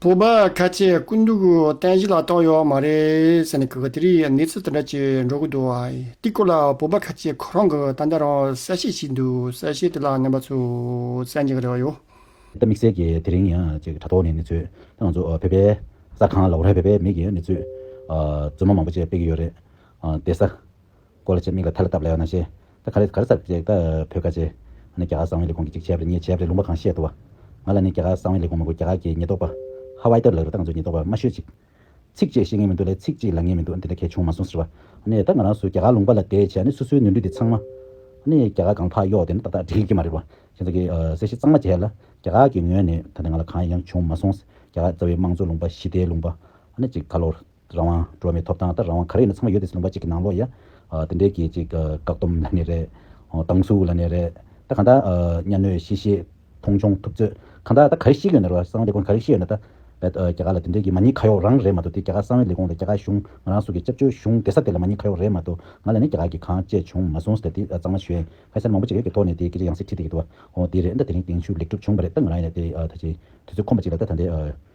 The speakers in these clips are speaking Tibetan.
སྤོབས་པ་ཁ་ཆེ་ཀུན་འདུག་བསྟན་བཞི་ལ་རྟོག་ཡོད་མ་རེད་ཟེར་ནས་གུས་པ་དེ་རིགས་གནས་ཚུལ་དེ་འདྲ་ཅིག་འགྲོ་གི་འདུག་དེ་སྐོར་ལ་སྤོབས་པ་ཁ་ཆེ་ཁོ་རང་གི་ཏན་ཏན་རང་གསལ་བཤད་ཞིག་འདུག་གསལ་བཤད་དེ་ལ་ནང་པ་ཚོས་བཙན་གྱིས་རེ་བ་ཡོད། ད་དམིགས་བསལ་གྱིས་དེ་རིང་ཡང་ཅིག་དྲ་ཐོག་ནས་གནས་ཚུལ་དེ་ང་ཚོ་བོད་པའི་གསར་ཁང་ལ་འོ་ར་བས་པའི་མིག་གིས་གནས་ཚུལ་རྫུན་མ་མང་པོ་བཅས་སྤེལ་གྱི་ཡོད་རེད། དེ་ས། སྐོར་ལ་བྱས། མིག་ལ་ཐལ་ལ་བཏབ་ལ་ཡང་ན་བྱས། ད་ག་རེ་ག་རེ་སར་བྱས། ད་བོད་ཁ་བྱས། ང་ནི་རྒྱ་གར་གསང་བའི་ལས་ཁུངས་ཀྱི་གཅིག་བྱས་པ་རེད་གཉིས་བྱས་པ་རེད་ལུང་པ་གང་བཤད་འདུག་བ། ང་ལ་ནི་རྒྱ་གར་གསང་བའི་ལས་ཁུངས་མི་དགོས་རྒྱ་གར་གྱི་ཉེས་རྟོག་པ། ཧ་ཝའི་ཏར་ལགས་རེད་ད་ང་ཚོའི་ཉེས་རྟོག་པ་མ་ཤོད་ཅིག། ཚིག་བཅད་ཤེས་ངེས་མི་འདུག་ལས་ཚིག་གཅིག་ལ་ངེས་མི་འདུག་འདི་འདྲ་གལ་ཆུང་མ་སོང་ཟེར་བ། ནས་ད་ང་རང་སུ་རྒྱ་གར་ལུང་པ་ལ་བསྡད་བྱས་ནས་སུ་སུའི་ནུས་འདུས་དེ་ཚང་མ། ནས་རྒྱ་གར་གང་ཕག་གཡོག་དེ་ནི་ཏག་ཏག་འགྲིག་གི་མ་རེད་བ། ཁྱེད་ཚོ་གིས་གསལ་བཤད་གཙང་མ་བྱས་ལ། རྒྱ་གར་གྱི་ངོས་ནས་ད་ནས་ང་ལ་གང་ཡང་བྱུང་མ་སོང། རྒྱ་གར་རྩ་བའི་དམངས་གཙོ་ལུང་པ་ཞི་བདེའི་ལུང་པ། ནས་ཅིག་ག་ལོར། རང་དབང། འགྲོ་མིའི་ཐོབ་ཐང་ལྟར་རང་དབང་ག་རེ་ཡིན་ན་ཚང་མ་ཡོད་དེ་ལུང་པ་གཅིག་གི་ནང་ལོགས་ཡ། དེ་འདྲའི་གི་གཅིག་བཀག་སྡོམ་ལ་ནི་རེད། སྡང་ཟུག་ལ་ནི་རེད། ད་གང་དག་གཉའ་གནོད་གཤེ་གཤེ། མཐོང་ཆུང་ཐུབ་ཚོད། གང་དག་ད་ག་རེ་ཤེས་ཀྱི་ཡོད་ན་རེད་བ། གསང་བ་ལས་ཁུངས་ག་རེ་ཤེས་ཡོད་ན་ད། བལ་རྒྱ་ག་ལ་དེ་འདྲའི་གི་མ་ཉིད་ཁ་ཡོག་རང་རེད་མ་གཏོགས་དེ་རྒྱ་ག་གསང་བའི་ལས་ཁུངས་ལ་རྒྱ་ག་གཞུང་ང་རང་སུ་གི་སྤྱབ་ཆོས་གཞུང་དེ་ས་དེ་ལ་མ་ཉིད་ཁ་ཡོག་རེད་མ་གཏོགས་ང་ལ་ནི་རྒྱ་ག་གི་གང་བྱས་བྱུང་མ་སོང་ཟེར་དེ་གཙང་མ་ཞོན་ཁ་སེར་མང་པོ་གཅིག་ཡོད་གི་ཐོག་ནས་དེ་སྐད་ཅིག་ཡང་སྲིད་ཁྲིད་དེ་གི་འདུག་བ། འོ་དེ་རེད་ད་དེ་རིང་དེང་ཆུ་ལེགས་གྲུབ་བྱུང་བ་རེད་ད་ང་རང་ཡང་ད་དེ་ད་ཆེ་དུས་ཚོད་ཁོམ་པ་གཅིག་ལ་ད་ད་འདི།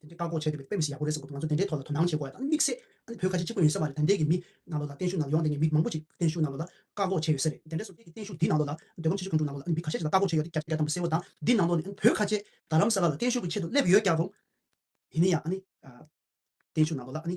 དེ་འདྲའི་བཀག་འགོག་བྱེད་འདོད་པའི་དཔེ་མི་སྲིད་ཡག་པོ་རེད་བསམ་ཁུལ་དུ་ང་ཚོ་དེ་འདྲའི་ཐོག་ལ་དོ་སྣང་བྱེད་དགོས་ཡ་དང་དམིགས་བསལ་ཨ་ནི་བོད་ཁ་ཆེ་གཅིག་པོ་ཡིན་ས་མ་རེད་ད་འདས་ཀྱི་མི་ནང་ལོག་ལ་བརྟན་བཞུགས་ནང་ལོག་ཡོང་འདས་ཀྱི་མི་མང་པོ་ཅིག་བརྟན་བཞུགས་ནང་ལོག་ལ་བཀག་འགོག་བྱས་ཡོད་ས་རེད་དེ་འདྲའི་སོ་སྐྱེས་ཀྱི་བརྟན་བཞུགས་འདིའི་ནང་ལོག་ལ་བོད་ཁམས་ཆེ་ཆུང་གང་དྲུག་ནང་ལོག་ལ་ཨ་ནི་མི་ཁ་ཤས་ཤིག་ལ་བཀག་འགོག་བྱས་ཡོད་དེ་རྒྱ་རྒྱ་དམ་པོ་གསལ་བོ་དང་འདིའི་ནང་ལོག་ནས་ཨ་ནི་བོད་ཁ་ཆེ་ད་ལམ་ས་ལ་ལ་བརྟན་བཞུགས་ཀྱི་ཆེད་དུ་སླེབས་ཡོད་རྒྱག་རུང་ཡིན་ནའི་ཡང་ཨ་ནི་བརྟན་བཞུགས་ནང་ལོག་ལ་ཨ་ནི།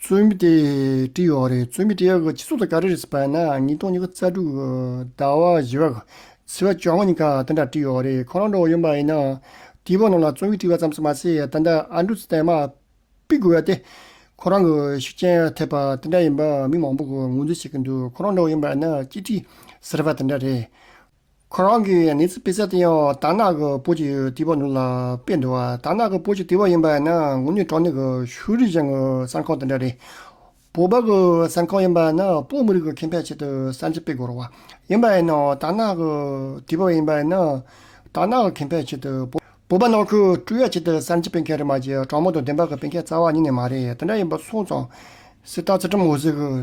རྩོད་མེད་དེ་བཀྲིས་ཡོད་རེད་རྩོད་མེད་བཀྲིས་ཡོད་གི་སྤྱི་ཚོགས་དང་ག་རེ་རེད་ཟེར་པ་ན་ཉིས་སྟོང་ཉི་ཤུ་རྩ་དྲུག་ཟླ་བ་བཞི་བ་ཚེས་བ་བཅོ་ལྔ་ཉིན་ག་དེ་འདྲ་བཀྲིས་ཡོད་རེད་ཁོ་རང་འགྲོ་བ་ཡིན་པ་ཡིན་ན་དེའི་བར་ནང་ལ་རྩོད་མེད་བཀྲིས་བ་ཙམ་ཟེར་མ་ཟད་ད་ལྟ་ཨ་འབྲུ་ཚེ་བརྟན་མ་དཔེ་དགོས་བ་དེ་ཁོ་རང་གི་ཤུགས་རྐྱེན་ཐེབས་པ་དེ་འདྲ་ཡིན་པ་མི་མང་པོ་གི་ངོས་འཛིན་བྱེད་ཀྱི་འདུག་ཁོ་རང་འགྲོ་བ་ཡིན་པ་ཡིན་ན་སྤྱི་བཀྲིས་ཟེར་བ་དེ་འདྲ་རེད་ཁོ་རང་གི་གནས་ཚུལ་སྤེལ་ས་དེ་ཡང་དར་ནག་གི་བོད་ཀྱི་དུས་བབ་ནང་ལ་སྤེལ་འདུག་དར་ནག་གི་བོད་ཀྱི་དུས་བབ་ཡིན་པ་ཡིན་ན་ངུ་ནུས་གྲོགས་ནུས་ཀྱི་ཤུ་རིག་གཞན་གྱི་གསར་ཁང་དེ་འདྲ་རེད། བོད་པ་གྱི་གསར་ཁང་ཡིན་པ་ཡིན་ན་བོད་མི་རིགས་ཀྱི་ཁེ་ཕན་ཆེད་དུ་གསར་འབྱེད་སྤེལ་དགོས་རུང་བ་ཡིན་པ་ཡིན་ན་དར་ནག་གི་དུས་བབ་ཡིན་པ་ཡིན་ན་དར་ནག་གི་ཁེ་ཕན་ཆེད་དུ་བོད་པ་ནང་ཁུལ་དཀྲུག་ཡ་ཆེད་དུ་གསར་འབྱེད་སྤེལ་མཁན་རེད་མ་གཞི་དྲང་མོ་དང་བདེན་པ་གྱི་སྤེལ་མཁན་རྩ་བ་ཉིད་ནས་མ་རེད་དེ་འདྲ་ཡིན་པ་སོང་ཙང་སྲིད་དར་ཚེ་ཁྲིམས་འོད་ཟེར་གྱི།